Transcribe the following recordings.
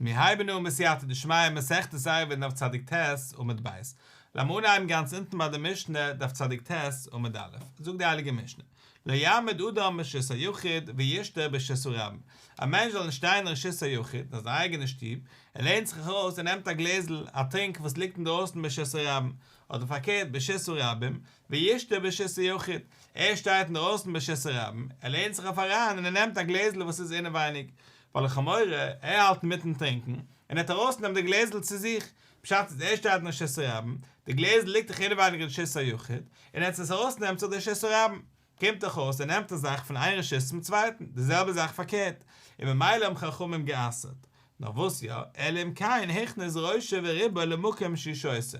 מיר הייבן אן מיט סייעתא דשמיא מסכת עירובין דף צדיק ט עמוד ב', לאמיר אנהייבן גאנץ אונטן ביי די משנה דף צדיק ט עמוד א', זאגט די הייליגע משנה, לא יעמוד אדם ברשות היחיד וישתהה ברשות הרבים, א מענטש זאל נישט שטיין אין רשות היחיד, אין זיין אייגענע שטוב, ער לערנט זיך אויך אויס און נעמט א גלעזל א טרינק וואס ליגט אינדרויסן ברשות הרבים, אדער פארקערט ברשות הרבים, וישתה בשס ה יחיד, ער שטייט אינדערויסן בשס ה רבים, ער לערנט זיך אויף אריין און ער נעמט א גלעזל וואס איז אינעווייניג, ווייל לכאורה ער האלט אינמיטן טרינקן, און ער האט ארויסנעמט די גלעזל צו זיך, פשט איז ער שטייט אין שס ה רבים, די גלעזל ליגט דאך אינעווייניג אין שס ה יחיד, און עטס עס ארויס נעמט זיך דער שס ה רבים, קומט דאך אויס ער נעמט א זאך פון איין רשות צום צווייטן, די זעלבע זאך פארקערט, און ממילא האבן חכמים גע'אסר'ט, נאר וואס יא, אלא אם כן הכניס ראשו וריבו למקום שישותו.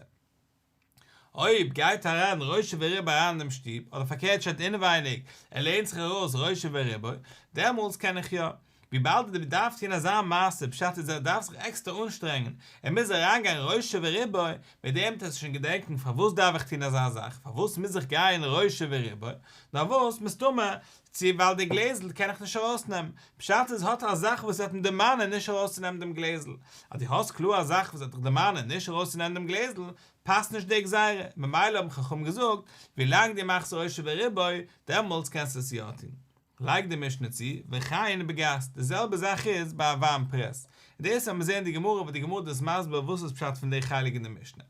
אויב גייט אריין ראשי וריבו אריין אינעם שטוב, אדער פארקערט שטייט אינעווייניג, ער לערנט זיך ארויס ראשי וריבו, דעמאלטס קען איך יא. וויבאלד ער דארף טון אזא מעשה, פשט איז ער דארף זיך עקסטער אנשטרענגען, ער מוז אריינגיין ראשי וריבו, מיט דעם וועט ער זיך שוין געדענקען פארוואס דארף איך טון אזא זאך, פארוואס מוז איך גיין ראשי וריבו, נארוואס, מסתמא צי ווייל די גלעזל קען איך נישט ארויסנעמען. פשט איז האט ער א זאך וואס ער וועט עם דערמאנען נישט ארויסצונעמען דעם גלעזל. אז דו האסט קלאר א זאך וואס וועט דיך דערמאנען נישט ארויסצונעמען דעם גלעזל, פאסט נישט די גזירה. ממילא האבן חכמים געזאגט, ווילאנג דו מאכסט ראשו וריבו, דעמאלטס קענסטו עס יא טון. לייגט די משנה צו, וכעין בגס, די זעלבע זאך איז ביי א וויין פרעס. און דאס וועט מען זען אין די גמרא ווען די גמרא דאס מסביר וואס איז פשט פון די חלק אין די משנה.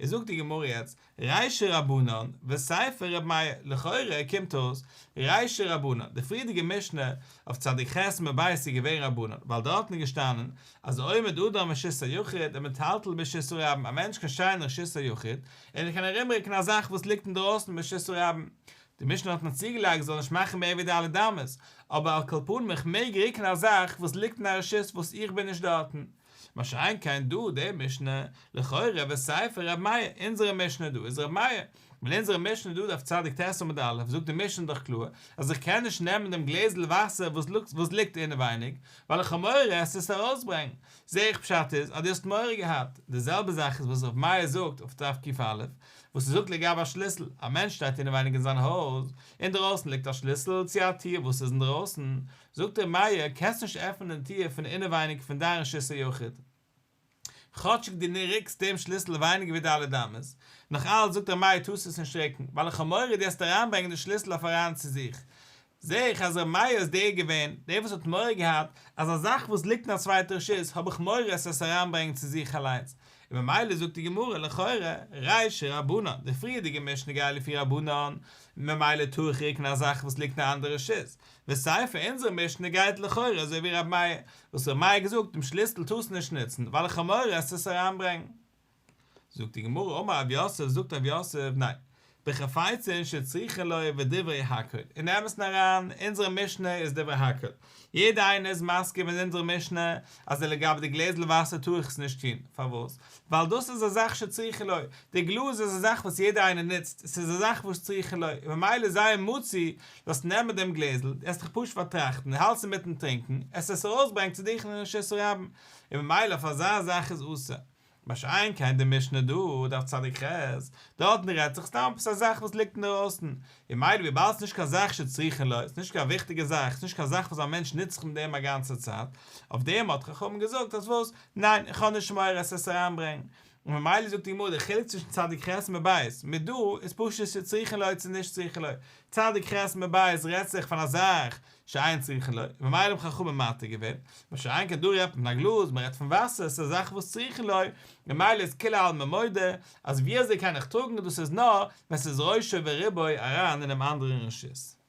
איז זאגט די גמרא יעצט ריישע רבנן וסייפא ר' מאיר, לכאורה קומט אויס ריישע רבנן, די פריערדיגע משנה אויף צדיק ח' מבית איז געווען רבנן, ווייל דארטן איז געשטאנען אז עומד אדם משיש היחיד ומתלתל בשיש רבן, א מענטש קען שטיין אין שיש היחיד און ער קען ארומרוקן א זאך וואס ליגט אינדרויסן אין שיש רבן, די משנה האט מיר צוגעלייגט כ'זאל נישט מאכן מער ווי ד' אמות, אבער על כל פנים איך מעג רוקן א זאך וואס ליגט אין א רשות וואס איך בין נישט דארטן, מה שאין כן דא די משנה, לכאורה וסייפה ר' מאיר, אונזערע משנה דא איז ר' מאיר, ווייל אונזערע משנה דא דף צדיק ט עמוד א' זאגט די משנה דאך קלאר אז איך קען נישט נעמען דעם גלעזל וואסער וואס ליגט אינעווייניג, ווייל איך האב מורא עס צו ארויסברענגן, זע איך פשט איז אז דו האסט מורא געהאט, די זעלבע זאך איז וואס ר' מאיר זאגט אויף דף ק א, וואס ער זאגט לגבי א שליסל, א מענטש שטייט אינעווייניג אין זיין הויז, אינדערויסן ליגט א שליסל צו א טיר וואס איז אינדערויסן, זאגט ר' מאיר, קענסט נישט עפענען דעם טיר פון אינעווייניג פון דיין רשות היחיד, כאטשיג דו ריקסט דעם שליסל ווייניגער ווי ד' אמות, נאך אלץ זאגט ר' מאיר טוסט עס נישט ריקן, ווייל איך האב מורא דו העסט אריינברענגען די שליסל אויף אריין צו זיך. זע איך אז ר' מאיר איז דער געווען, דער וואס האט מורא געהאט, אז א זאך וואס ליגט אין א צווייטע רשות, האב איך מורא עס עס אריינברענגען צו זיך אליינס, און ממילא זאגט די גמרא, לכאורה, רייש ש רבנן, די פריערדיגע משנה גייט לפי רבנן, ממילא טאר איך ריקן א זאך וואס ליגט אין א אנדערע רשות, וסייפא אונזער משנה גייט לכאורה אזוי ווי רבי מאיר, וואס רבי מאיר געזאגט דעם שליסל טארסט נישט נוצן ווייל חמור עסט עס אריינברענגן. זאגט די גמרא אמר אב יוסף זאגט אב יוסף ניין בחפצין שצריכין ליה ודברי הקל און נעמסן אריין אונזערע משנה איז דברי הקל יעדע איינער איז מסכים מיט אונזערע משנה אז לגבי די גלעזל וואסער טאר איך עס נישט טון פארוואס ווייל דאס איז א זאך שצריכין ליה די גלאז איז א זאך וואס יעדע איינער נוצט עס איז א זאך וואס צריכין ליה ממילא זיין מוציא זאלסט נעמען דעם גלעזל, דו האסט דיך פשוט פארטראכטן, און האלטסט אינמיטן טרינקען, עס וועסט ארויסברענגען צו דיך אין רשות הרבים, און ממילא אויף אזא זאך איז אסור. מה שאין כן די משנה דא, דף צדיק ח, דארטן רעדט זיך סתם עפעס א זאך וואס ליגט אינדערויסן, און ממילא וויבאלד ס'איז נישט קיין זאך שצריכין לו, ס'איז נישט קיין וויכטיגע זאך, ס'איז נישט קיין זאך וואס א מענטש נוצט זיך מיט דעם א גאנצע צייט, אויף דעם האט חכמים געזאגט אז וואס, ניין, איך האב נישט מורא עס וועסט אריינברענגען, און ממילא זאגט די גמרא די חילוק צווישן צדיק ח' און מבאס מ ד איז פשוט צו צריכין ליה צו נישט צריכין ליה, צדיק ח' און מבאס רעדט זיך פון א זאך שאין צריכין ליה, ממילא האבן חכמים מתיר געווען, מה שאין כן דא רעדט מען פון א גלאז, מען רעדט פון וואסער, ס'איז א זאך וואס צריכין ליה, ממילא איז כולי עלמא מודה אז ווי אזוי קען איך טראגן דאס איז נאר ווען ס'איז ראשו וריבו אריין אינעם אנדערן רשות.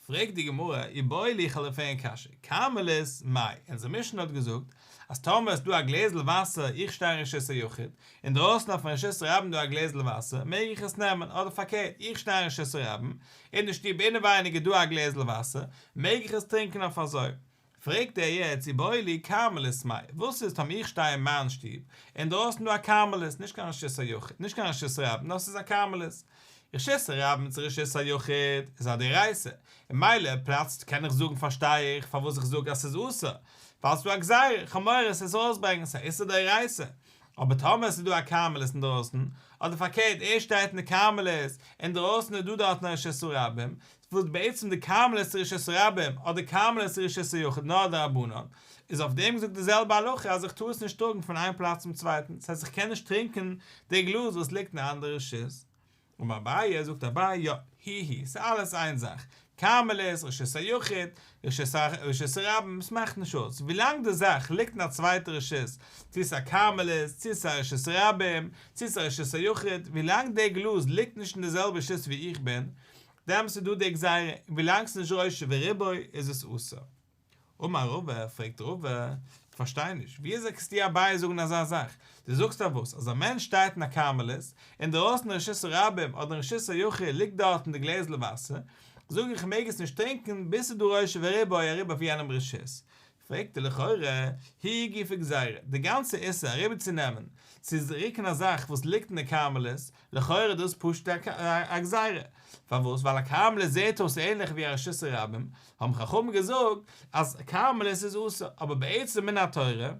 פרעגט די גמרא אי בואי ליכא לפענ קשיא, קארמעליס מאי, אונזער משנה האט געזאגט אז טאמער איז דא א גלעזל וואסער איך שטיי אין רשות היחיד, אינדרויסן אויפן רשות הרבים דא א גלעזל וואסער, מעג איך עס נעמען, אדער פארקערט איך שטיי אין רשות הרבים, אין די שטוב אינעווייניג איז דא א גלעזל וואסער, מעג איך עס טרינקען אויף אזוי, פרעגט ער יעצט צו בולי כרמלית מאי, וואס איז טאמער איך שטיי אין מיין שטוב, אינדרויסן דא א כרמלית, נישט קיין רשות היחיד, נישט קיין רשות רבים, נאר ס'איז א כרמלית. רשות הרבים צו רשות היחיד איז א דאורייתא, און מילא פלאצט קען איך זאגן פארשטיי איך פארוואס איך זאג אז ס'איז אסור, ווייל ס'דא א גזירה חמורה ס'איז ארויסברענגען, ס'איז א איסור דאורייתא. אבער טאמער ס'איז דא א כרמלית אינדרויסן, אדער פארקערט ער שטייט אין די כרמלית, אינדרויסן איז דא דארטן א רשות הרבים, וואס בעצם די כרמל איז רשות הרבים אדער כרמל איז רשות היחיד נאר די רבנן איז אויף דעם געזאגט די זעלבע הלכה אז איך טאר עס נישט טראגן פון איין פלאץ צום צווייטן ס'הייסט איך קען נישט טרינקען די גלאז וואס ליגט אין אנדערע רשות און אביי זאגט אביי יא היהי ס'איז אלעס איין זאך כרמל איז רשות היחיד רשות הרבים ס'מאכט נישט אויס ווילאנג די זאך ליגט אין א צווייטע רשות צו ס'איז א כרמל איז צו ס'איז א רשות הרבים צו ס'איז א רשות היחיד ווילאנג די גלאז ליגט נישט אין די זעלבע רשות ווי איך בין דעמאלס איז דא די גזירה, און ווילאנג ס'איז נישט ראשי וריבוי איז עס אסור. אמר רבא, פרעגט רבא, איך פארשטיי נישט, וויאזוי קענסטו יא בייעס זאגן אזא זאך? דו זאגסט אז וואס? אז א מענטש שטייט אין א כרמלית, אינדערויסן רשות הרבים אדער רשות היחיד ליגט דארטן די גלעזל וואסער, זאג איך מעג עס נישט טרינקען ביז ס'איז דא ראשי וריבוי אריבער אויף יענעם רשות, פרעגט ער לכאורה, היא גופא גזירא, די גאנצע איסור אריבערצונעמען צו רוקן א זאך וואס ליגט אין די כרמלית, לכאורה איז דאס פשוט א גזירה, פארוואס ווייל א כרמלית זעט אויס ענליך ווי א רשות הרבים, האבן חכמים געזאגט אז כרמלית איז אסור, אבער בעצם מן התורה,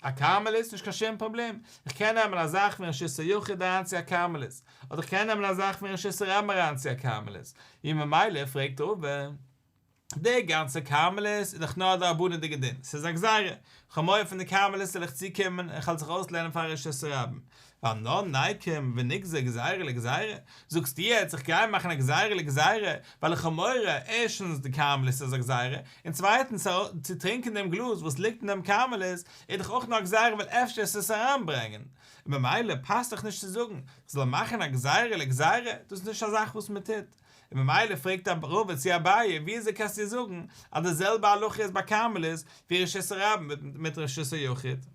א כרמלית נישט קיין שום פראבלעם, איך קען נעמען א זאך פון רשות היחיד אריין צו א כרמלית, אדער איך קען נעמען א זאך פון רשות הרבים אריין צו א כרמלית, וממילא פרעגט ראובן, די גאנצע כרמלית איז דאך נאר א דרבנן'דיגע דין, ס'איז א גזירה, כ'האב מורא פון די כרמלית זאל איך צוקומען און כ'וועל זיך אויסלערנען פאר א רשעות רבים, ווייל נא נאי קום ונגזר גזירה לגזירה, זאגסטו יעצט איך גיי מאכן א גזירה לגזירה ווייל איך האב מורא ערשטנס די כרמלית איז א גזירה, און צווייטנס צו טרינקען דעם גלאז וואס ליגט אין דעם כרמלית איז דאך אויך נאר א גזירה ווייל אפשר עס עס אריינברענגען, ממילא פאסט דאך נישט צו זאגן כ'זאל מאכן א גזירה לגזירה, דאס איז נישט א זאך וואס מ'טוט. און ממילא פרעגט רבא צו אביי וויאזוי קענסטו זאגן אז די זעלבע הלכה איז ביי כרמלית ווי רשות הרבים וועט מיט רשות היחיד?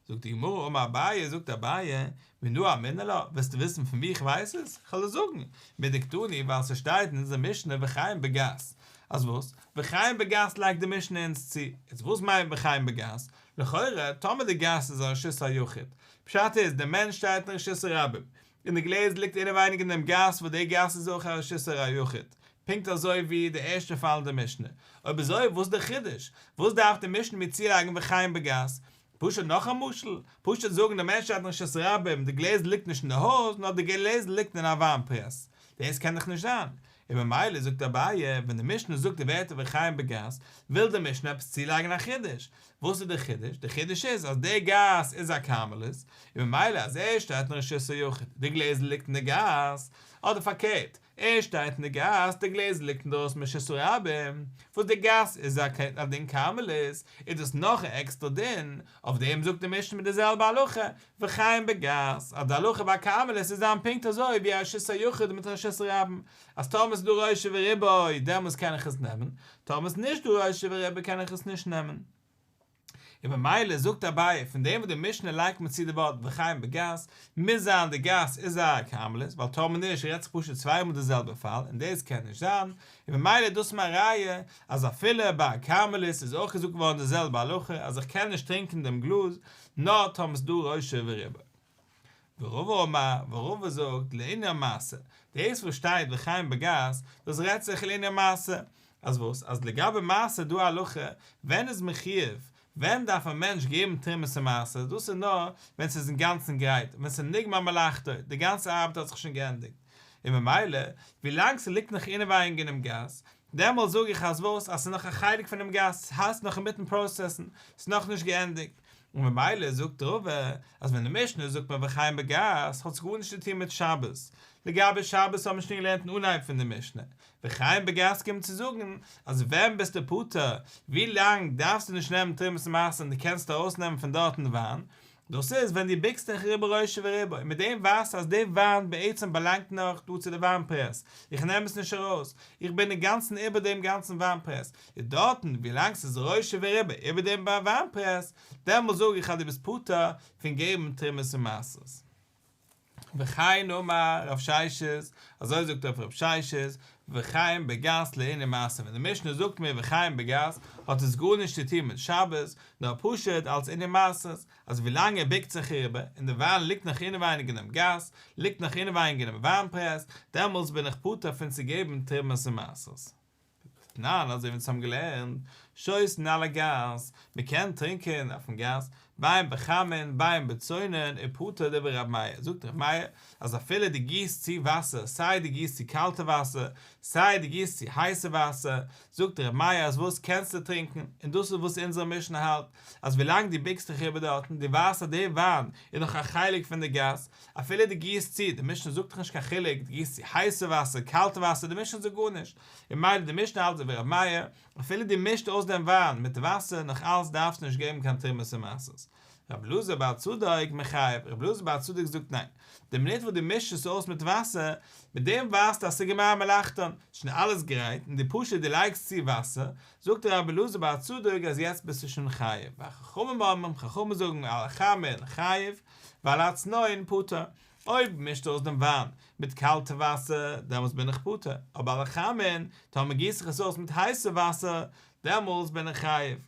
זאגט די גמרא אמר אביי זאגט אביי מנא אמינא לה ווילסטו וויסן פון וואו איך ווייס עס? איך וועל עס זאגן מדקדני ווייל ס'שטייט אין אונזער משנה וחיים בגס אז וואס? וחיים בגס לייגט די משנה אונז צו איז וואס מיינט וחיים בגס? לכאורה טאמער די גאס איז א רשות היחיד פשט איז די מענטש שטייט אין רשות הרבים אין די גלעזער ליגט אינעווייניג אין דעם גאס וואס די גאס איז אויך א רשיסער היחיד, פונקט אזוי ווי די ערשטע פאל אין די משנה, אויב אזוי וואס איז די חידוש? וואס דארף די משנה מיר צולייגן ווי חיים בגאס? פשוט נאך א משל? פשוט זאגן די מענטש האט אין רשות הרבים, די גלעזער ליגט נישט אין די הויז נאר די גלעזער ליגט אין א וויין פרעס? דאס קען דאך נישט זיין, און ממילא זאגט אביי, ווען די משנה זאגט די ווערטער וחיים בגז, וויל די משנה עפעס צולייגן א חידוש. וואס איז די חידוש? די חידוש איז אז דער גז איז א כרמלית, און ממילא אז ער שטייט אין רשות היחיד, די גלעזל ליגט אין די גז, אדער פארקערט, ער שטייט אין די גז, די גלעזל ליגט אינדרויסן ברשות הרבים, וואס די גז איז א דין כרמלית, איז דאס נאך א עקסטער דין, אויף דעם זאגט די משנה מיט די זעלבע הלכה, וחיים בגז, אז די הלכה ביי קארמעלעס איז דאן פונקט אזוי ווי רשות היחיד מיט רשות רבים, אז טאמער ס'איז דא רשע וריבוי דעמאלס קען איך עס נעמען, טאמער ס'איז נישט דא רשע וריבוי קען איך עס נישט נעמען. און ממילא זאגט אביי, פון דעם וואס די משנה לייגט מיר צו די ווארט וחיים בגז, מוז זיין די גז איז א קארמעלעס, ווייל טאמער נישט רעדט זיך פשוט צוויי מאל די זעלבע פאל, און דאס קען נישט זיין, און ממילא איז דאס מיין ראיה אז אפילו ביי א קארמעלעס איז אויך געזאגט געווארן די זעלבע הלכה אז איך קען נישט טרינקען דעם גלאז, נאר טאמער איז דא ראשי וריבא. ורבא אומר, ורבא זאגט, לעיני המעשה, דאס וואס שטייט וחיים בגז, דאס רעדט זיך לעיני המעשה, אז וואס? אז לגבי מעשה איז דא א הלכה, ווען איז מען חיוב, ווען דארף א מענטש געבן תרומת המעשר, דאס איז נאר ווען ס'איז אינגאנצן גרייט, ווען ס'איז נגמר מלאכתו, די גאנצע ארבעט האט זיך שוין גענדיגט, און ממילא, ווילאנג ס'ליגט נאך אינעווייניג אינעם גז, דעמאלט זאג איך אז וואס? אז ס'איז נאך א חלק פונעם גאס, ס'הייסט נאך אינמיטן פראסעסן, ס'איז נאכנישט געענדיגט. און ממילא זאגט רבא אז ווען אין משנה זאגט מען וחיים בגז האט עס גארנישט צו טון מיט שבת. לגבי שבת האבן מיר שוין געלערנט אין אנהייב פון די משנה. וחיים בגז קומט צו זאגן אז ווען ביסטו פטור, ווי לאנג דארפסטו נישט נעמען תרומת מעשר און דו קענסט ארויסנעמען פון דארטן וויין, דאס איז ווען דו ביקסט דיך ריבו ראשו וריבו, מיט דעם ווייזטו אז די וויין בעצם באלאנגט נאך דא צו די וויין פרעס, איך נעם עס נישט ארויס, איך בין אינגאנצן איבער דעם גאנצן וויין פרעס, און דארטן ווילאנג ס'איז ראשו וריבו איבער דעם וויין פרעס, דעמאלט זאג איך אז דו ביסט פטור פון געבן תרומות ומעשרות. וכן אמר רב ששת, אזוי זאגט אויף רב ששת, וכן בגס לעיני מעשה, ווען די משנה זאגט מיר וכן בגס, האט עס גארנישט צו טון מיט שבת, נאר פשוט אלס עיני מעשה, אז ווילאנג ער ביקט זיך אריבער, און די וויין ליגט נאך אינעווייניג אינעם גאס, ליגט נאך אינעווייניג אינעם וויין פרעס, דעמאלטס בין איך פטור פון צו געבן תרומות און מעשרות. תנן, אזוי ווי אונז האבן געלערנט, שותן על הגז, מען קען טרינקען אויפן גאס, מים בחמין, מים בצונן, ופטור דברי רבי מאיר, זאגט רבי מאיר, אז אפילו דו גיסט צו וואסער, סיי דו גיסט צו קאלטע וואסער, סיי דו גיסט צו הייסע וואסער, זאגט רבי מאיר אז וואס קענסטו טרינקען, און דאס איז וואס אונזער משנה האלט, אז ווילאנג דו ביקסט דיך איבער דארטן, דו ווייסט אז דער וויין איז נאך א חלק פון די גאס, אפילו דו גיסט צו, די משנה זאגט דאך נישט קיין חילוק, דו גיסט צו הייסע וואסער, קאלטע וואסער, די משנה זאגט גארנישט, און מילא די משנה האלט ווי ר' מאיר, אפילו דו מישט אויס דעם וויין מיט וואסער, נאך אלץ דארפסטו נישט געבן קיין תרומות און מעשרות. ר' אלעזר בעל צדק מחייב, ר' אלעזר בעל צדק זאגט ניין, די מינוט וואס דו מישט עס אויס מיט וואסער, מיט דעם ווייסטו אז ס'איז גמר מלאכתן, ס'איז שוין אלעס גרייט, און דו פשוט דו לייגסט צו וואסער, זאגט רבי אלעזר בעל צדק אז יעצט ביסטו שוין חייב, ווייל חכמים אומרים, חכמים זאגן על החמין חייב ועל הצנון פטור, אויב מישט אויס דעם וויין מיט קאלטע וואסער דעמאלס בין איך פטור, אבער על החמין טאמער גיס איך עס אויס מיט הייסע וואסער דעמאלס בין איך חייב.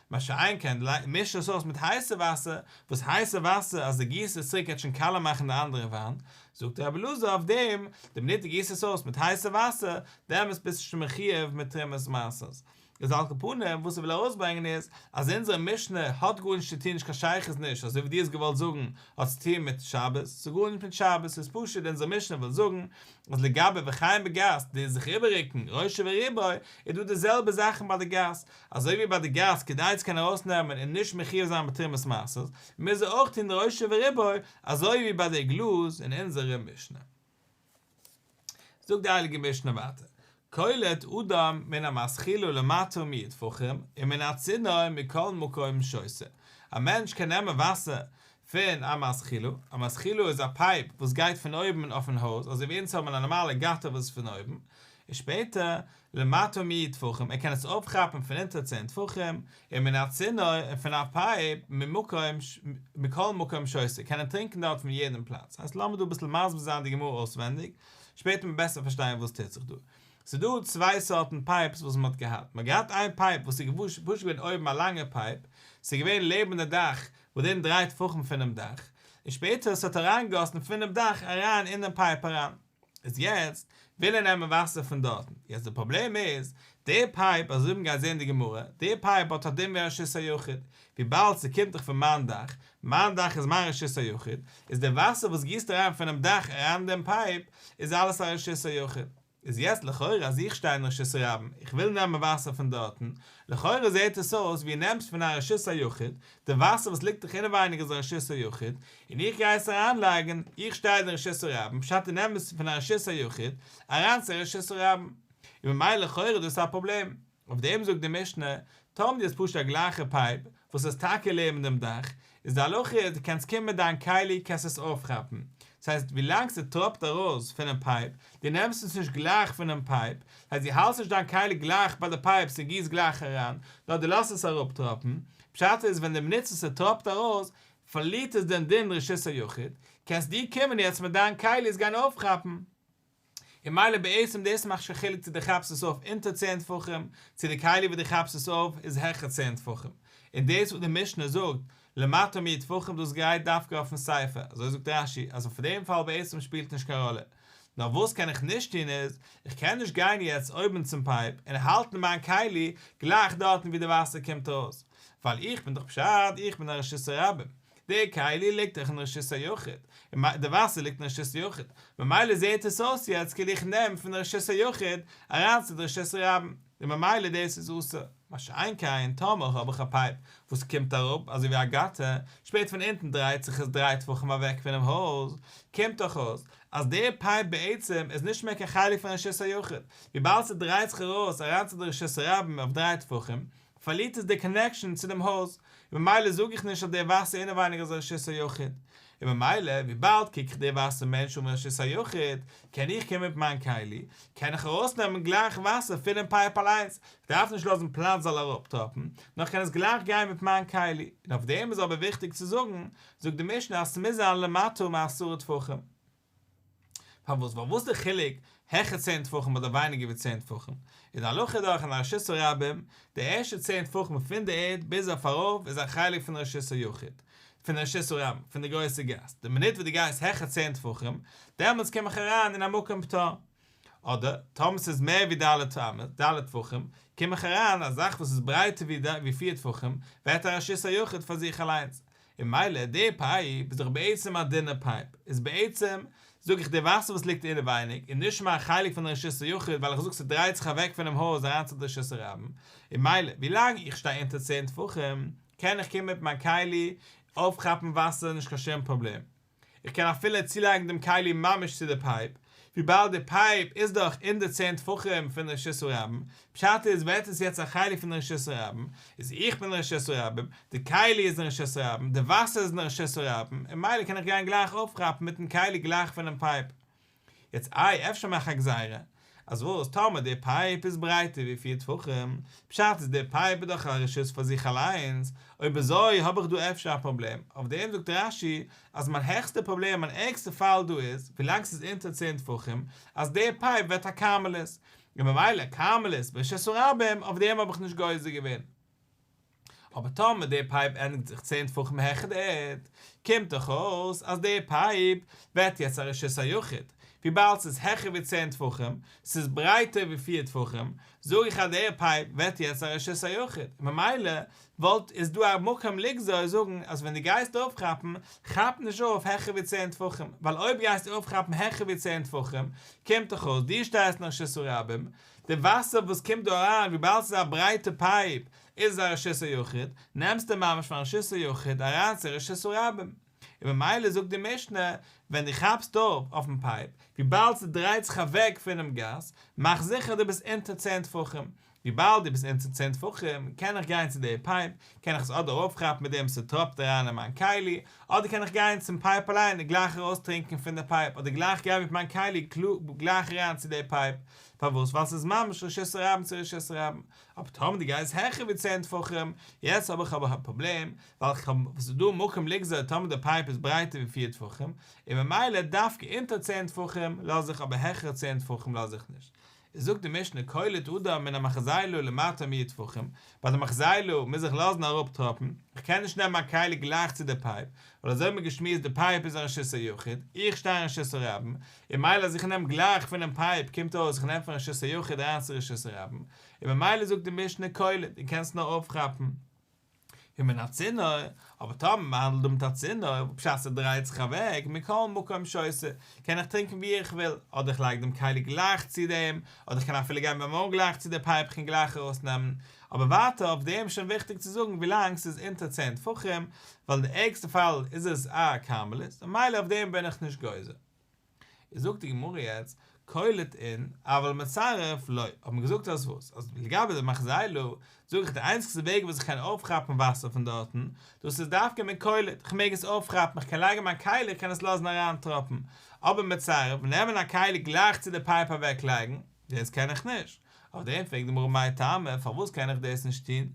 מה שאין כן, מיש עס אויס מיט הייסע וואסער, וואס הייסע וואסער, אז די גיסט עס צוריק וועט שוין קאלער מאכן די אנדערע וויין, זאגט רבי אלעזר אויף דעם, די מינוט די גיסט עס אויס מיט הייסע וואסער, דעמאלס ביסטו שוין מחיוב מיט תרומת מעשר. איז על כל פנים, וואס איך וויל ארויסברענגען איז, אז אונזערע משנה האט גארנישט צו טון נישט קיין שייכות נישט אזוי ווי דו האסט געוואלט זאגן האט צו טון מיט שבת, ס'האט גארנישט מיט שבת, ס'איז פשוט אונזער משנה וויל זאגן אז לגבי וחיים בגסט די זיך איבעררוקן ראשו וריבו איז דא די זעלבע זאכן ביי די גאס, אזוי ווי ביי די גאס כדי צו קענען ארויסנעמען און נישט מחיוב זיין בתרומת מעשר, מוז ער אויך טון ראשון וריבון אזוי ווי ביי די עגלות אין אונזערע משנה. זאגט די הייליגע משנה ווייטער, קולט אדם מן המשכילו למטה מיד פחים ומן הצינור מכל מקום שוסה, א מענטש קען נעמען וואסער פון א משכילו, א משכילו איז א פייפ וואס גייט פון אויבן אויפן הויז אזוי ווי אונז האבן א נארמאלע גאטער וואס איז פון אויבן, און שפעטער למטה מ טפחים, ער קען עס אויפכאפן פון אונטער צען טפחים, און מן הצינור, און פון א פייפ, ממקום ש, מכל מקום שוסע, קען ער טרינקן דארט פון יעדן פלאץ. הייסט לאמיר דא אביסל מסביר זיין די גמרא אויסווענדיג, שפעטער וועט מען בעסער פארשטיין וואס טוט זיך דא. ס'איז דא צוויי סארטן פייפס וואס מ'האט געהאט. מ'האט געהאט איין פייפ וואס איז געווארן פשוט געווען אויבן א לאנגע פייפ, ס'איז געווען לעבן די דאך, ווידערום דריי טפחים פונעם דאך, און שפעטער ס'האט אריינגעגאסן פונעם דאך אריין אינעם פייפ אריין. איז יעצט וויל ער נעמען וואסער פון דארטן, יעצט די פראבלעם איז, די פייפ, אזוי ווי מ'גייט זעהן אין די גמרא, די פייפ האט א דין ווי א רשות היחיד, וויבאלד ס'קומט דאך פון מיין דאך, מיין דאך איז מיין רשות היחיד, איז די וואסער וואס גיסט אריין פונעם דאך אריין דעם פייפ, איז אלעס א רשות היחיד. איז יעצט לכאורה אז איך שטיי אין רשות הרבים, איך וויל נעמען וואסער פון דארטן, לכאורה זעהט עס אויס ווי נעמסט פון א רשות היחיד, די וואסער וואס ליגט דאך אינעווייניג איז א רשות היחיד, און איך גיי עס אריינלייגן, איך שטייל די רשות הרבים, פשט אין אמת פון א רשות היחיד, אריין צו א רשות הרבים. און ממילא לכאורה איז דאס א פראבלעם. אויף דעם זאגט די משנה, טאמער די האסט פשוט א גלייכע פייפ, וואס איז טאקע לעבן דעם דאך, איז די הלכה איז די קענסט קומען מיט דיין כלי קענסט עס אויפכאפן, דאס הייסט ווילאנג ס'טראפט ארויס פונעם פייפ, די נעמסט עס נישט גלייך פונעם פייפ, דאס הייסט די האלסט נישט דיין כלי גלייך ביי די פייפ ס'גיסט גלייך אריין, נאר די לאזט עס אראפטראפן, פשט איז ווען די בנוצט עס ס'טראפט ארויס, פארלירט עס דען דעם רשות היחיד? קענסט דו קומען יעצט מיט דיין כלי עס גיין אויפכאפן? און מילא בעצם דאס מאכט שוין חילוק צו דו כאפסט עס אויף אונטער צען טפחים, צו די כלי וואס דו כאפסט עס אויף איז העכער צען טפחים, און דאס וואס די משנה זאגט למטה מ טפחים דאס גייט דווקא אויפן ספר, אזוי זאגט רש י, אז אויף דעם פאל בעצם שפילט נישט קיין ראלע. נאר וואס קען איך נישט טון איז, איך קען נישט גיין יעצט אויבן צום פייפ און האלטן מיין כלי גלייך דארטן ווי די וואסער קומט ארויס, ווייל איך בין דאך פשט איך בין א רשות הרבים, די כלי ליגט דאך אין רשות היחיד, די וואסער ליגט אין רשות יחיד, ממילא זעהט עס אויס יעצט כאילו איך נעם פון רשות היחיד אריין צו די רשות הרבים, און ממילא דאס איז אסור, מה שאין כן טאמער האב איך א פייפ וואס קומט אראפ אזוי ווי א גאטער, שפעט פון אונטן דרייט זיך עס דריי טפחים אוועק פונעם הויז, קומט דאך אויס אז די פייפ בעצם איז נישט מער קיין חלק פון רשות היחיד, וויבאלד ס'דרייט זיך ארויס אריין צו די רשות הרבים אויף דריי טפחים, פארלירט עס די קאנעקשאן צו דעם הויז, און ממילא זאג איך נישט אז דער ווייסער אינעווייניג איז א רשות היחיד, און ממילא וויבאלד קוק איך דער ווייסער מענטש אן רשות היחיד, קען איך קומען מיט מיין כלי, קען איך ארויסנעמען גלייך וואסער פונעם פייפ אליינס, איך דארף נישט לאזן פלאץ זאל אראפטראפן, נאר כ'קען עס גלייך גיין מיט מיין כלי, און אויף דעם איז אבער וויכטיג צו זאגן, זאגט די משנה אז ס'מוז זיין למטה מעשרה טפחים. פארוואס? ווייל וואס די חילוק העכער צען טפחים אדער ווייניגער ווי צען טפחים? איז די הלכה דורך אין א רשות הרבים, די ערשטע צען טפחים פון די ערד ביז אויף ארויף איז א חלק פון רשות היחיד, פון רשות הרבים, פון די גרויסע גאס, די מינוט וואס די גייסט העכער צען טפחים, דעמאלטס קום איך אריין אין א מקום פטור. אדער, טאמער ס'איז מער ווי ד' אמות, ד' טפחים, קום איך אריין, א זאך וואס איז ברייטער ווי פיר טפחים, ווערט א רשות היחיד פאר זיך אליינס. און מילא, די פייפ, איז דאך בעצם א דינע פייפ. איז בעצם, זאג איך, די וואסער וואס ליגט אינעווייניג, איז נישט מיין חלק פון רשות היחיד, ווייל איך זאג ס'דרייט זיך אוועק פונעם הויז אריין צו די שוסער רבים. און מילא, ווי לאנג איך שטיי אונטער צען טפחים, קען איך קומען מיט מיין כלי, אויפכאפן וואסער, נישט קיין שום פראבלעם. איך קען אפילו צולייגן דעם כלי ממש צו די פייפ, וויבאלד די פייפ איז דאך אין די צען טפחים פון רשות הרבים, פשט איז ווערט עס יעצט א חלק פון רשות הרבים, איז איך בין רשות הרבים, די כלי איז אין רשות הרבים, די וואסער איז אין רשות הרבים, און מילא קען איך גיין גלייך אויפכאפן מיטן כלי גלייך פונעם פייפ. יעצט איי אפשר מאך א גזירה, אז וואס טאמער די פייפ איז ברייטער ווי פֿיר טפחים, פשט איז די פייפ איז דאך א רשות פאר זיך אליינס, אויב אזוי האב איך דא אפשר א פראבלעם, אויף דעם זאגט רש י אז מיין העכסטע פראבלעם מיין ערגסטע פאל דא איז ווילאנג ס'איז אונטער צען טפחים אז די פייפ ווערט א כרמלית, און ממילא כרמלית ברשות הרבים אויף דעם האב איך נישט גוזר געווען. אבער טאמער די פייפ ענדיגט זיך צען טפחים העכער די ערד, קומט דאך אויס אז די פייפ ווערט יעצט א רשות היחיד, וויבאלד ס'איז העכער ווי צען טפחים, ס'איז ברייטער ווי פיר טפחים, זאג איך אז די פייפ ווערט יעצט א רשות היחיד, און ממילא וואלט איז דא א מקום לגזור זאגן אז ווען דו גייסט אויפכאפן, כאפ נישט אויף העכער ווי צען טפחים, ווייל אויב גייסטו אויפכאפן העכער ווי צען טפחים, קומט דאך אויס דו שטייסט אין רשות הרבים, די וואסער וואס קומט דא אריין וויבאלד ס'איז א ברייטע פייפ, איז א רשות היחיד, נעמסטו ממש פון רשות היחיד אריין צו רשות הרבים. און ממילא זאגט די משנה, ווען דו כאפסט אויף אויפן פייפ, וויבאלד ס'דרייט זיך אוועק פונעם גאס, מאך זיכער דו ביסט אונטער צען טפחים. וויבאלד דו ביסט אונטער צען טפחים, קען איך גיין צו די פייפ, קען איך עס אדער אויפכאפן מיט דעם ס'טראפט אריין אין מיין כלי, אדער קען איך גיין צום פייפ אליין און גלייך ארויסטרינקען פון די פייפ, אדער גלייך גיין מיט מיין כלי גלייך אריין צו די פייפ. פארוואס? ווייל ס'איז ממש רשות הרבים צו רשות הרבים. אבער טאמער די גייסט העכער ווי צען טפחים, יעצט האב איך אבער א פראבלעם, ווייל כ'האב וואס איז דא מקום לגזור טאמער די פייפ איז ברייטער ווי פֿיר טפחים, און ממילא דווקא אונטער צען טפחים לאז איך אבער העכער צען טפחים לאז איך נישט. איז זאגט די משנה כל עוד אדם מן המחזאי לו למטה מ טפחים, ביי די מחזאי לו מוז איך לאזן אראפ טראפן, כ'קען נישט נעמען א כלי גלייך צו די פייפ, ווייל אזוי האט מען געשמועסט די פייפ איז אין רשות היחיד, איך שטיי אין רשות הרבים, און מילא אז איך נעם גלייך פונעם פייפ קומט אויס איך נעם פון רשות היחיד אריין צו רשות הרבים, און ממילא זאגט די משנה קולא דו קענסט נאר אויפכאפן ומן הצינור, אבער טאמער מען האנדלט דא מיט א צינור וואס בשעת ער דרייט זיך אוועק מכל מקום שעושה קען איך טרינקען ווי איך וויל, אדער איך לייג דעם כלי גלייך צו דעם, אדער איך קען אפילו גיין ביים אויל גלייך צו די פייפ איך קען גלייך ארויסנעמען, אבער ווייטער אויף דעם איז שוין וויכטיג צו זאגן ווילאנג ס'איז אונטער צען טפחים, ווייל אין די ערגסטע פאל איז עס א כרמלית, און מילא אויף דעם בין איך נישט גוזר. איז זאגט די גמרא יעצט, קולת אין, אבל מצרף לא, האט מען געזאגט אז וואס? אז לגבי די מחזאי ל, זאג איך די איינציגסטע וועג וואס איך קען אויפכאפן וואסער פון דארטן, דאס איז דווקא מיט קולת, איך מעג עס אויפכאפן, איך קען לייגן מיין כלי, איך קען עס לאזן אריינטראפן, אבער מצרף, נעמען א כלי גלייך צו די פייפ אוועקלייגן, דאס קען איך נישט. אויף דעם פרעגט די גמרא מאי טעמא, פארוואס קען איך דאס נישט טון?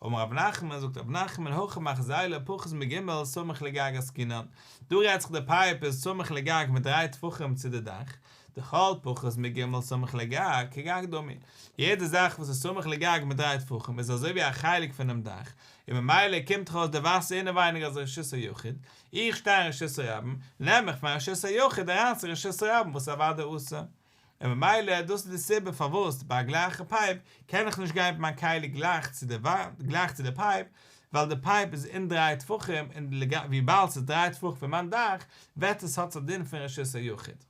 אמר רבי נחמן, זאגט רבי נחמן, הכא מאכ זיילער פחות מ ג' סמוך לגג עסקינן, דא רעדט זיך די פייפ איז סמוך לגג מיט דריי טפחים צו די דאך, די כל פחות מ ג' סמוך לגג, כגג דומי, יעדע זאך וואס איז סמוך לגג מיט דריי טפחים איז אזוי ווי א חלק פונעם דאך, און ממילא קומט דאך אויס די וואסער אינעווייניג אז רשות היחיד, איך שטיי אין רשות הרבים, נעם איך פון רשות היחיד אריין צו רשות הרבים וואס איז אוודאי אסור. און ממילא דאס איז די סיבה פארוואס ביי א גלייכע פייפ קען איך נישט גיין מיט מיין כלי גלייך צו די וואנט, גלייך צו די פייפ, ווייל די פייפ איז אין דריי טפחים און וויבאלד ס'איז דריי טפח פון מיין דאך וועט עס האט עס א דין פון רשות היחיד.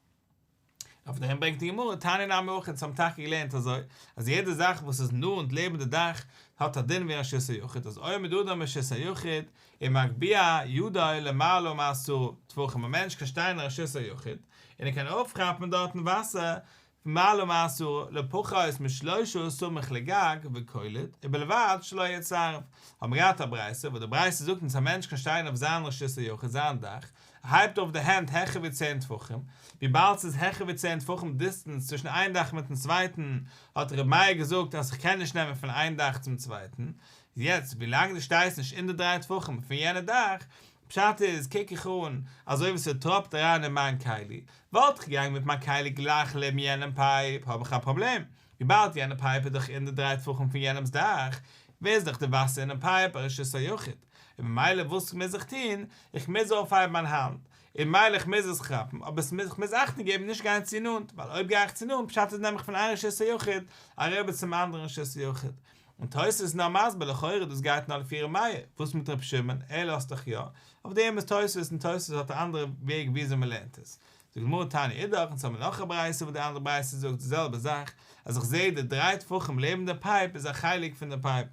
אויף דעם ברענגט די גמרא תני נמי אויך אונז האבן טאקע געלערנט אזוי אז יעדע זאך וואס איז נאנט לעבן די דאך האט א דין ווי רשות היחיד אז עומד אדם ברשות היחיד און מגביה ידו למעלה ומעשרה טפחים, א מענטש קען שטיין אין רשות היחיד, און ער קען אויפכאפן דארטן וואסער פון מעלה ומעשרה, לפחות משלושה סמוך לגג, וקולט, ובלבד שלא יהיה צרב. האבן מיר געהאט א ברייתא, וואס די ברייתא זאגט אונז א מענטש קען שטיין אויף זיין רשות היחיד, זיין דאך, ער הייבט אויף די הענט העכער ווי צען טפחים, וויבאלד ס'איז העכער ווי צען טפחים דיסטענס צווישן איין דאך מיטן צווייטן, האט ר' מאיר געזאגט אז כ'קען נישט נעמען פון איין דאך צום צווייטן, יעצט ווילאנג די שטייסט נישט אין די דריי טפחים פון יענע דאך, פשט איז קוק איך אן אזוי ווי ס'טראפט אריין אין מיין כלי, וואלט איך געגאנגען מיט מיין כלי גלייך לעבן יענעם פייפ האב איך א פראבלעם, וויבאלד יענע פייפ איז דאך אין די דריי טפחים פון יענעמ'ס דאך, ווער איז דאך די וואסער אינעם פייפ א רשות היחיד, און ממילא וואס מוז איך טון, איך מוז אויפהייבן מיין האנט, און ממילא איך מוז עס כאפן, אבער ס'מוז איך מוז אכטונג געבן נישט גיין צו נאנט, ווייל אויב גיי איך צו נאנט פשט איז נעם איך פון איין רשות היחיד אריבער צום אנדערן רשות היחיד, און תוס' איז נאר מסביר לכאורה דאס גייט נאר לפי ר' מאיר, וואס מיט ר' שמעון, ער לאזט דאך יא, אויף דעם איז תוס' און תוס' האט א אנדערע וועג וויאזוי מען לערנט עס. די גמרא תענית איז דאך, אונז האמיר נאך א ברייתא וואס די אנדערע ברייתא זאגט די זעלבע זאך, אז איך זעה די דריי טפחים לעבן די פייפ איז א חלק פון די פייפ,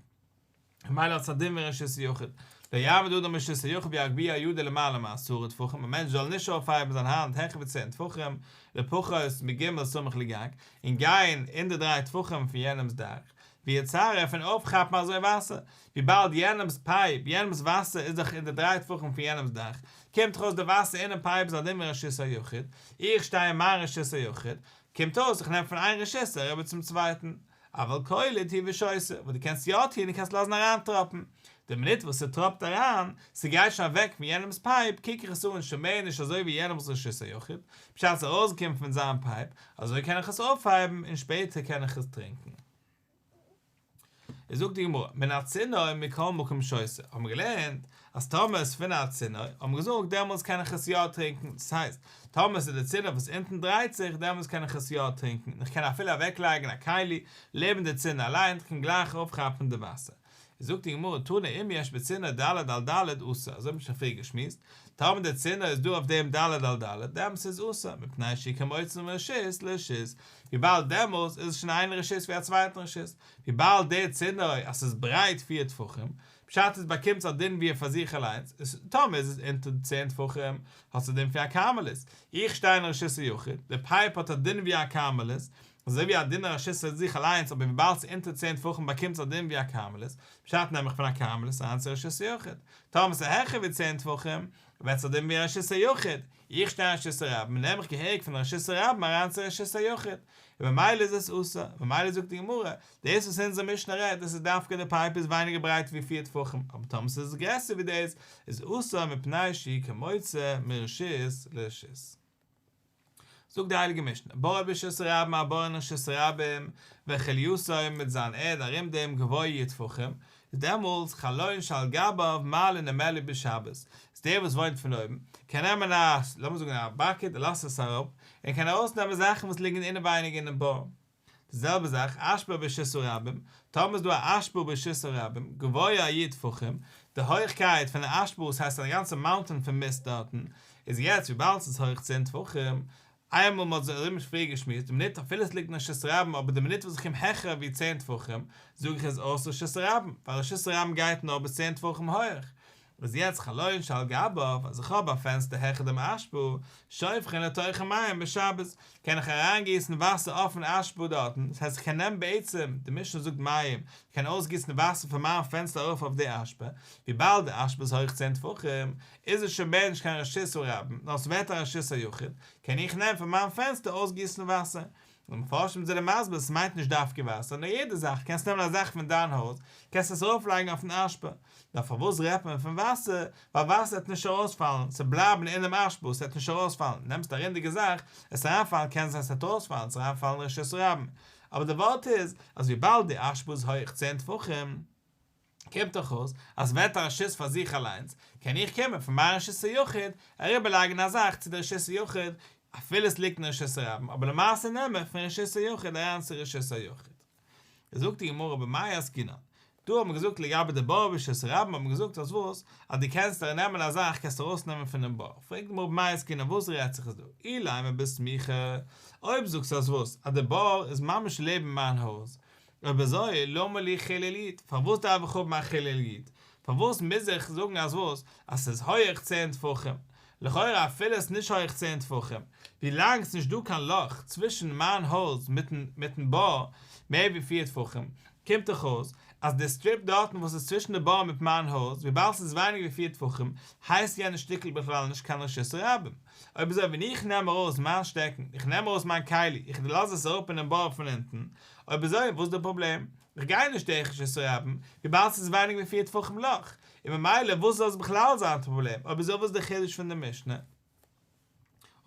ממילא האט עס א דין ווי רשות היחיד, לא יעמוד אדם ברשות היחיד ויגביה ידו למעלה מעשרה טפחים, א מענטש זאל נישט אויפהייבן זיין האנט העכער ווי צען טפחים, לפחות מג' סמוך לגג, און גיין אין די דריי טפחים פון יענעמ'ס דאך. ווי א צרה פון אויפכאפן אזוי וואסער, וויבאלד יענעמ'ס פייפ, יענעמ'ס וואסער איז דאך אין די דריי טפחים פון יענעמ'ס דאך, קומט ארויס די וואסער אינעם פייפ איז א דין ווי רשות היחיד, איך שטיי אין מיין רשות היחיד, קומט אויס איך נעם פון איין רשות אריבער צום צווייטן, אבל קולי תהי' ושויסע, וואס דו קענסט יא טון דו קענסט לאזן אריינטראפן, די מינוט וואס ס'טראפט אריין, ס'גייט שוין אוועק פון יענעמ'ס פייפ, קוק איך עס אן שוין מער נישט אזוי ווי יענעמ'ס רשות היחיד, בשעת ס'ארויסגעקומען פון זיין פייפ, אזוי קען איך עס אויפהייבן און שפעטער קען איך עס טרינקען. איז זאגט די גמרא, מן הצינור מכל מקום שויסע, האט מען געלערנט אז טאמער איז פון א צינור, האט מען געזאגט, דעמאלטס קען איך עס יא טרינקען, דאס הייסט, טאמער ס'איז די צינור וואס אונטן דרייט זיך, דעמאלטס קען איך עס יא טרינקען, און איך קען אפילו אוועקלייגן א כלי לעבן די צינור אליין, איך קען גלייך אויפכאפן די וואסער. זאגט די גמרא תנא אם יש בצינור ד' על ד' אסור, אזוי האבן מיר שוין פריער געשמועסט, טאמער דער צינור איז דא אויף דעם ד' על ד', דעמאלס איז עס אסור, מפני שהיא כמוצא מרשות לרשות, וויבאלד דעמאלס איז עס שוין איין רשות ווי א צווייטן רשות, וויבאלד דער צינור אז ס'איז ברייט פיר טפחים, פשט איז באקומט עס א דין ווי פאר זיך אליינס, טאמער איז עס אונטער צען טפחים, האט עס א דין פון א כרמלית, איך שטיי אין רשות היחיד, דער פייפ האט א דין ווי א כרמלית, אזוי ווי א דינער עשיסט איז זיך אליינס אבער וויבאלד ס'איז אונטער צען טפחים באקומט עס א דין ווי א כרמלית, פשט נעם איך פון א כרמלית אריין צו עשיסט יחיד, טאמער ס'איז העכער ווי צען טפחים ווערט עס א דין ווי א עשיסט יחיד, איך שטיי אין עשיסט רבים נעם איך געהעריג פון עשיסט רבים אריין צו עשיסט יחיד, און ממילא איז עס אסור, ממילא זאגט די גמרא, דאס וואס אונזער משנה רעדט דאס איז דווקא די פייפ איז ווייניגער ברייט ווי פיר טפחים אבער טאמער ס'איז גרעסער ווי דאס איז אסור מפני שהיא כמוצא מרשיסט לרשיסט. זאגט די הייליגע משנה בואו ברשות רבים הבורא נרשות רבים וכליותיו מיט זיין ערד ארום דעם גבוה י' טפחים איז דעמאלטס חלון שעל גביו מעלה נמעלה בשבת איז דער וואס וואוינט פון אויבן קען נעמען א לאמיר זאגן א באקעט ער לאזט עס אראפ און ער קען ארויסנעמען זאכן וואס ליגן אינעווייניג אינעם בור. די זעלבע זאך אשפר ברשות הרבים, טאמער איז דא א אשפר ברשות הרבים, גבוה א י טפחים, די הויכקייט פון די אשפר וואס הייסט אז א גאנצע מאונטען פון מיסט דארטן, איז יעצט וויבאלד ס'איז הויך צען טפחים, איינמאל מ'האט זיך ארום שפיר געשמועסט די מינוט אפילו ס'ליגט אין רשות הרבים אבער די מינוט וואס איך קום העכער ווי צען טפחים זאג איך איז אויס רשות הרבים ווייל רשות הרבים גייט נאר ביז צען טפחים הויעך, וואס יעצט חלון שעל גביו, אז איך האב א פענסטער העכער דעם אשפו, שופכין לתוכה מים בשבת, קען איך אריינגיסן וואסער אויפן אשפו דארטן, דאס הייסט איך קען נעמען בעצם, די משנה זאגט מים, איך קען אויסגיסן וואסער פון מיין פענסטער ארויף אויף די אשפה, וויבאלד די אשפה איז הויך צען טפחים, איז עס שוין מער נישט קיין רשות הרבים, נאר עס ווערט א רשות היחיד, קען איך נעמען פון מיין פענסטער אויסגיסן וואסער, די מפרשים זענען מסביר עס מיינט נישט דווקא וואסער נאר יעדע זאך, קענסט נעמען א זאך פון דיין הויז קענסט עס ארויפלייגן אויפן אשפה, נאר פארוואס רעדט מען פון וואסער, ווייל וואסער וועט נישט ארויספאלן, ס'וועט בלייבן אינעם אשפה ס'וועט נישט ארויספאלן, נעמסט א רינדיגע זאך עס אריינפאלן קען זיין ס'וועט ארויספאלן ס'וועט אריינפאלן רשות הרבים, אבער די ווארט איז אז וויבאלד די אשפה איז הויעך צען טפחים, קומט דאך אויס אז וועט א רשות פאר זיך אליינס, קען איך קומען פון מיין רשות היחיד אריבער לייגן א זאך צו די רשות היחיד אפילו עס ליגט אין רשות הרבים אבער למעשה נעם איך פון רשות היחיד אריין צו רשות היחיד. זאגט די גמרא במאי עסקינן, דא האט מען געזאגט לגבי די באר ורשות הרבים האט מען געזאגט אז וואס אז דו קענסט אריין נעמען א זאך קענסטו ארויס נעמען פונעם באר, פרעגט די גמרא במאי עסקינן וואס רעדט זיך עס דא אילאי מא בסמיכא אויב זאגסטו אז וואס אז די באר איז ממש לעבן מיין הויז אויב אזוי, למה לי כולל איד? פארוואס דארף איך האבן א כולל איד? פארוואס מוז איך זאגן אז וואס? אז עס איז הויעך צען טפחים? לכאורה אפילו עס איז נישט הויעך צען טפחים, ווילאנג עס איז נישט דא קיין לאך צווישן מיין הויז מיטן בור מער ווי פֿיר טפחים, קומט דאך אויס אז די סטריפ דארטן וואס איז צווישן די בור מיט מיין הויז, וויבאלד עס איז ווייניגער ווי פֿיר טפחים, הייסט יענע שטיקל בכלל נישט קיין רשות הרבים. אויב אזוי ווען איך נעם ארויס מיין שטעקן, איך נעם ארויס מיין כלי, איך דערלאז עס אראפ אינעם בור פון אונטן, אויב אזוי וואס איז די פראבלעם? איך גיי נישט דרך רשות הרבים, וויבאלד ס'איז ווייניג ווי פֿיר טפחים לאך, און ממילא וואס זאל עס בכלל זיין א פראבלעם, אויב אזוי וואס איז די חידוש פון די משנה?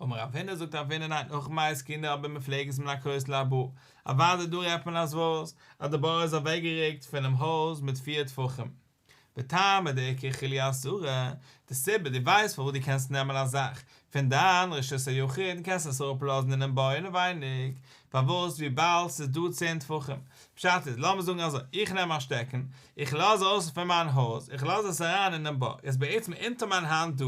אמר רב הונא זאגט רב הונא ניין אויך מייז קינדער האבן מפלגת מן הכותל אל הבור, אוודאי דא רעדט מען אז וואס? אז די בור איז אוועקגערוקט פונעם הויז מיט פֿיר טפחים. בטעמא דאיכא כולי אסורה, די סיבה, דו ווייסט פארוואס דו קענסט נעמען א זאך פון דיין רשות היחיד און קענסט עס אראפלאזן אינעם בור אינעווייניג, פארוואס וויבאלד ס'איז דא צען טפחים. פשט איז, לאמיר זאגן אזוי, איך נעם א שטעקן, איך לאז אויס פון מיין הויז, איך לאז עס אריין אינעם בור, איז בעצם אונטער מיין האנט דא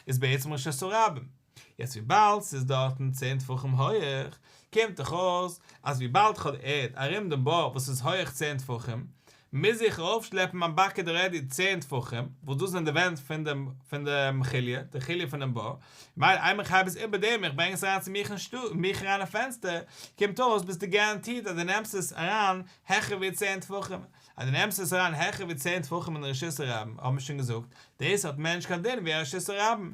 איז בעצם רשות הרבים, יעצט וויבאלד ס'איז דארטן צען טפחים הויעך, קומט דאך אויס אז וויבאלד כ'האב די ערד ארום דעם בור וואס איז הויעך צען טפחים, מוז איך ארויפשלעפן מיין באקעט רעדי צען טפחים, וואס דאס זענען די ווענט פון די פון די כליה, די כליה פונעם בור, מילא איינמאל איך הייב עס איבער דעם איך ברענג עס אריין צו מיך אין שטוב, מיך אריין אין פענסטער, קומט אויס ביסטו גאראנטירט אז דו נעמסט עס אריין העכער ווי צען טפחים, אז דו נעמסט עס אריין העכער ווי צען טפחים אין רשות הרבים האט מען שוין געזאגט, דאס האט מער נישט קיין דין ווי א רשות הרבים,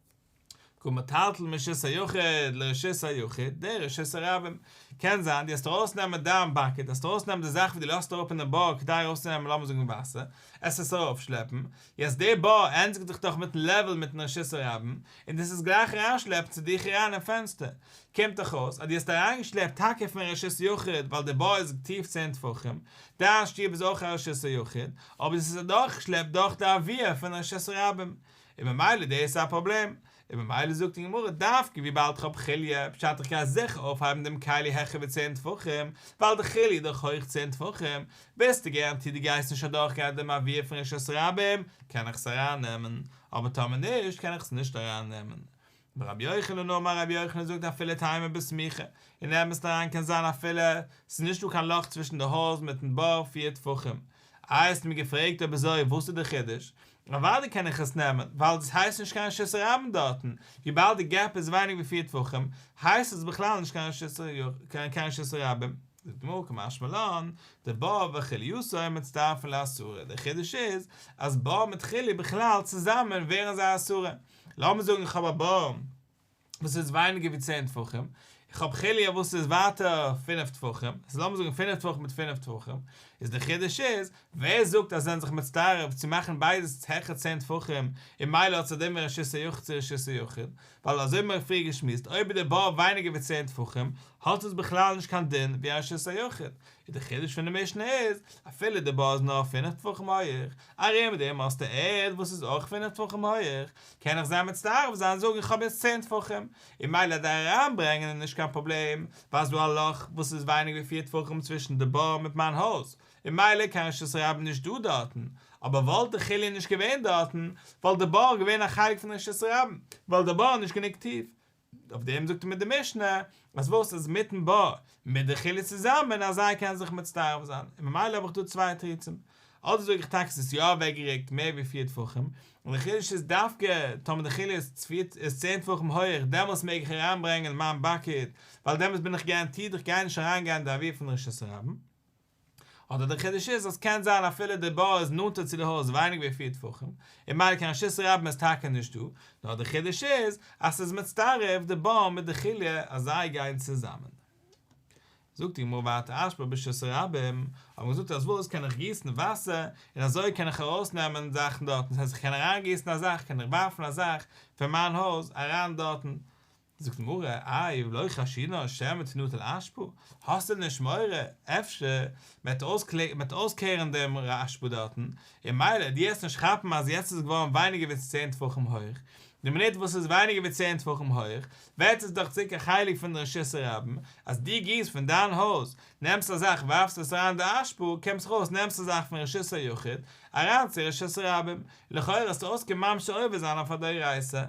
כמטלטל מרשות היחיד לרשות היחיד, דער רשות הרבים. קען זיין די האסט ארויסנעמען דיין באקעט, האסט ארויסנעמען די זאך וואס די לאזט אראפ אין די בור כדי ארויסצונעמען לאמיר זאגן וואסער, עס עס אראפשלעפן, יעצט די בור ענדיגט זיך דאך מיטן לעוועל מיטן רשות הרבים, און דאס איז גלייך אריינשלעפן צו דיך אריין אין פענסטער, קומט דאך אויס אז די האסט אריינגעשלעפט טאקע פון רשות יחיד ווייל די בור איז טיף צען טפחים, דיין שטוב איז אויך א רשות היחיד, אבער דאס איז אדורכגעשלעפט דורך די עביה פון רשות הרבים, און ממילא דאס איז א פראבלעם, און ממילא זאגט די גמרא דווקא וויבאלד איך האב כליה, פשט איך קען זיכער אויפהייבן דעם כליה העכער ווי צען טפחים, ווייל די כליה איז דאך הויך צען טפחים, ביסטו געראנטירט דו גייסט נישט אדורכגיין אט דעם אוויר פון רשות הרבים, קען איך עס ארייננעמען, אבער טאמער נישט קען איך עס נישט ארייננעמען. מרבי יוחנן אמר רבי יוחנן זאגט אפילו טעימה בסמיכה, אין אמת'ן אריין קען זיין אפילו ס'איז נישט דא קיין לאך צווישן די הויז מיטן בור פיר טפחים. אה האסט מיר געפרעגט אויב אזוי וואס איז די חידוש? אוודאי קען איך עס נעמען, ווייל דאס הייסט נישט קיין רשות הרבים דארטן, וויבאלד די געפ איז ווייניג ווי פיר טפחים, הייסט עס בכלל נישט קיין רשות הרבים. זאגט די גמרא כמשמע לן, די בור וכליותו מצטרפין לאסורה, די חידוש איז אז בור מיט כלי בכלל צוזאמען ווערן זיי אסורה, לאמיר זאגן איך האב א בור וואס איז ווייניגער ווי צען טפחים, איך האב חוליה וואס איז ווייטער פינף טפחים, ס'איז לאמיר זאגן פינף טפחים מיט פינף טפחים, איז די חידוש איז, ווער זאגט אז זענען זיך מצטרף צו מאכן ביידע העכער צען טפחים, און מילא האט ס'דומה רשות היחיד צו רשות יחיד, ווייל אזוי האבן מיר פריער געשמועסט, אויב איז די בור ווייניגער ווי צען טפחים, האט עס בכלל נישט קיין דין ווי א רשות היחיד, איז די חידוש פון די משנה איז, אפילו די בור איז נאר פינף טפחים הויעך, ארום דעם מאסטע ערד וואס איז אויך פינף טפחים הויעך, קען איך זיין מצטרף זיין און זאגן איך האב יעצט צען טפחים, און מילא דער אריינברענגען איז נישט קיין פראבלעם, ווייל ס'דא א לאך וואס איז ווייניג ווי פיר טפחים צווישן די בור מיט מיין הויז, און מילא איז קיין רשות הרבים נישט דא דארטן, אבער וואלט די כלי נישט געווען דארטן, וואלט די בור געווען א חלק פון רשות הרבים, ווייל די בור איז נישט גענוג טיף, אויף דעם זאגט מיר די משנה אז וואס איז מיטן בא מיט די חלה צוזאמען אז זיי קענען זיך מצטרף זיין און ממילא האב איך דא צוויי תירוצים אדער זאג איך טאקע ס'איז יא אוועקגערוקט מער ווי פֿיר טפחים און די חידוש איז דווקא טאמער די חלה איז צען טפחים הויעך דעמאלטס מעג איך אריינברענגען מיין באקעט ווייל דעמאלטס בין איך גאראנטירט איך גיי נישט אריינגיין די עבירה פון רשות הרבים. אדער דער חידוש איז אז קען זיין אפילו די בור איז נאנטער צו די הויז ווייניג ווי פֿיר טפחים און ממילא קיין רשות רבים איז טאקע נישט דא, נאר דער חידוש איז אז ס'איז מצטרף די בור מיט די חוליא אז זיי גייען צוזאמען. זאגט די גמרא ואתא אשפר ברשות רבים, האט מען געזאגט אז וואס קען איך גיסן וואסער און אזוי קען איך ארויסנעמען זאכן דארטן, דאס הייסט איך קען אריינגיסן א זאך, קען איך ווארפן א זאך פון מיין הויז אריין דארטן, זאגט די גמרא, איי לא חשינא שמא תנוט על אשפו, האסט דען נישט מורא אפשר מ'עט אויסקלערן דעם ר' אשפו דארטן, און מילא דו העסט נישט כאפן אז יעצט איז עס געווארן ווייניגער ווי צען טפחים הויך, די מינוט וואס עס איז ווייניגער ווי צען טפחים הויך, ווערט עס דאך צוריק א חלק פון די רשות הרבים, אז דו גיסט פון דיין הויז, נעמסט א זאך ווארפסט עס אריין אין די אשפו, קומסט ארויס נעמסט א זאך פון רשות היחיד אריין צו רשות הרבים, לכאורה האסטו אויסגעממשט די עובר זיין אויף א דאורייתא.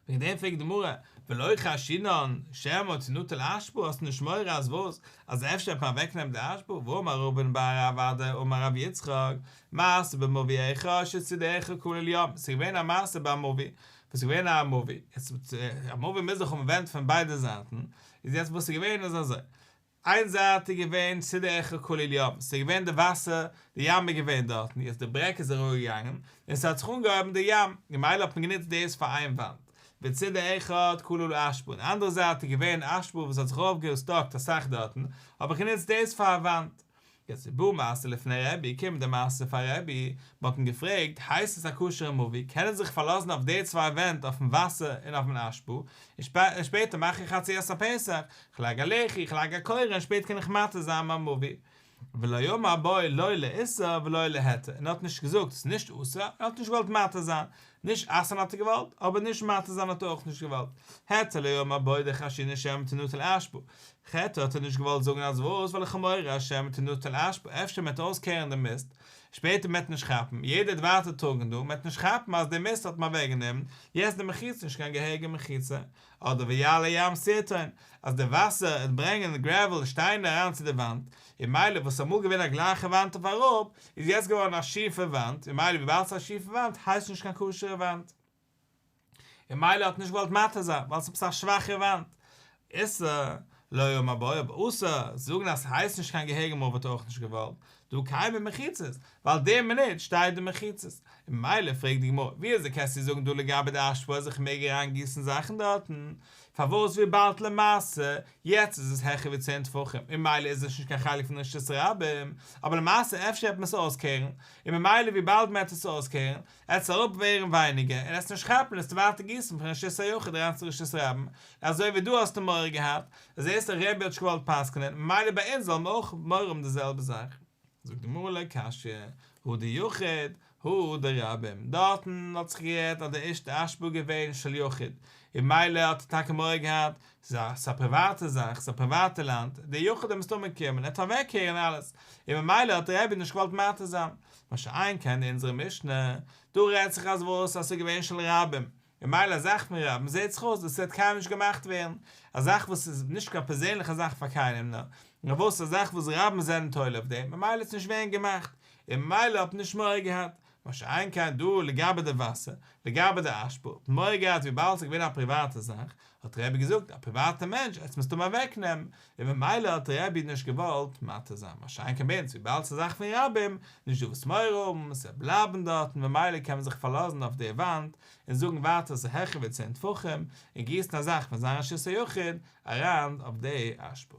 וועגן דעם פרעגט די גמרא, ולא חשינן שמא תנוטל האשפו, האסטו נישט מורא אז וואס? אז אפשר וועט מען אוועקנעמען די האשפו? ואמר רבן בר אבדיה אמר רבי יצחק, מעשה במביא איכה שצידך כולל ים, ס'איז געווען א מעשה ביי א מביא, וואס איז געווען א מביא, יעצט א מביא מוז דאך האבן ווענט פון ביידע זייטן, איז יעצט וואס איז געווען איז אזוי, איין זייט איז געווען צו די עכו כולל ים, ס'איז געווען די וואסער, די ים איז געווען דארטן, יעצט די ברעג איז ארויגעגאנגען, און ס'האט זיך אנגעהויבן די ים, ממילא האט מען גענוצט דאס פאר איין וואנט, וצו די אחד כולל אשפה, און אנדערע זייט איז געווען אשפה וואס האט זיך אויפגעסטאקט אסאך דארטן, האט מען גענוצט דאס פאר א וואנט, יעצט איז בא מעשה לפני רבי, קומט די מעשה פאר רבי, מען האט אים געפרעגט, הייסט עס א כשר'ע מאווי, קען איך זיך פארלאזן אויף די צוויי ווענט אויפן וואסער און אויפן אשפו, און שפעטער מאך איך חציית הפסח, איך לייג א לחי, איך לייג א קורה און שפעט קען איך מעתיר זיין מיין מאווי? ולא יאמר בו לא לאיסור ולא להיתר, און ער האט נישט געזאגט עס איז נישט אסור, און ער האט נישט געוואלט מעתיר זיין, נישט אסר'ן האט ער געוואלט, אבער נישט מתיר זיין האט ער אויך נישט געוואלט. העצע ליום הבא די חשינא שמא תנוטל אשפו. חטא האט ער נישט געוואלט זאגן אז וואס, ווייל איך האב מורא אז שמא תנוטל אשפו, אפשר מען וועט אויסקערן די מיסט, שפעטער מען וועט נישט כאפן, יעדער וועט ווייטער טראגן דא, מען וועט נישט כאפן אז די מיסט האט מען אוועקגענומען, יעצט די מחיצה איז נישט קיין געהעריגע מחיצה, אדער ווי יעלה ים סעטאן אז די וואסער וועט ברענגען גרעוועל שטיינער אריין צו די וואנט און מילא וואס איז אמאל געווען א גלייכע וואנט אויף אראפ איז יעצט געווארן א שיעפע וואנט און מילא וויבאלד ס'איז א שיעפע וואנט הייסט עס נישט קיין כשר'ע וואנט און מילא האט נישט געוואלט מתיר זיין ווייל ס'איז עפעס א שוואכע וואנט איסר לא יאמר באויב אסור זאגן אז ס'הייסט נישט קיין געהעריגע מויל וואלט ער אויך נישט געוואלט דא קיימען מחיצות, ווייל די מינוט שטייט דא מחיצות, און ממילא פרעגט די גמרא, ווי אזוי קענסטו זאגן דא לגבי די אשפו אז איך מעג אריין גיסן זאכן דארטן, פארוואס וויבאלד למעשה יעצט איז עס העכער ווי צען טפחים, און ממילא איז נישט נישט קיין חלק פון רשות הרבים, אבער למעשה אפשר העט מען עס אויסקערן, און ממילא וויבאלד מען העט עס אויסקערן, עס וועט אראפ ווערן ווייניגער און עס וועט נישט כאפן עס טו ווייטער גיסן פון רשות היחיד אריין צו רשות הרבים אזוי ווי דו האסט מורא געהאט זעסט די רבי האט נישט געוואלט פסק'נען ממילא ביי אונז וועלן מיר אויך מורא האבן די זעלבע זאך. זאגט די מהר ל קשיא, הוא דיחיד, הוא דרבים, דארטן האט זיך גערעדט אז די ערשטע אשפו איז געווען של יחיד, און ממילא האט ער טאקע מורא געהאט, ס'איז א פריוואטע זאך, ס'איז א פריוואטע לאנד, דער יחיד האט מסתמא געקומען, ער האט פארוועקהערן אלעס, און ממילא האט די רבי נישט געוואלט מתיר זיין, מה שאין כן אין אונזערע משנה, דא רעדט זיך אז וואס אז ס'איז געווען של רבים, ממילא א זאך פון רבים זעהט זיך אויס וואס ס'וועט קיינמאל נישט געמאכט ווערן, א זאך וואס איז נישט קיין פערזענליכע זאך פאר קיינעם נאר וואס א זאך וואס רבים זענען תולה אויף דעם ממילא האט עס נישט ווערן געמאכט און ממילא האט מען נישט מורא געהאט, מה שאין כן דא לגבי די וואסער, לגבי די אשפו האט מען מורא געהאט וויבאלד ס'איז געווען א פריוואטע זאך, האט רבי געזאגט א פריוואטע מענטש עטס מוזט אים אוועק נעמען, און ממילא האט רבי נישט געוואלט מתיר זיין, מה שאין כן ביינס וויבאלד ס'איז זאך פון רבים, נישט דא וואס מורא האבן, ס'וועט בלייבן דארטן ממילא קען מען זיך פארלאזן אויף די וואנט און זאגן ווייטער ס'איז העכער ווי צען טפחים, און גיסן א זאך פון זיין רשות היחיד אריין אויף די אשפה.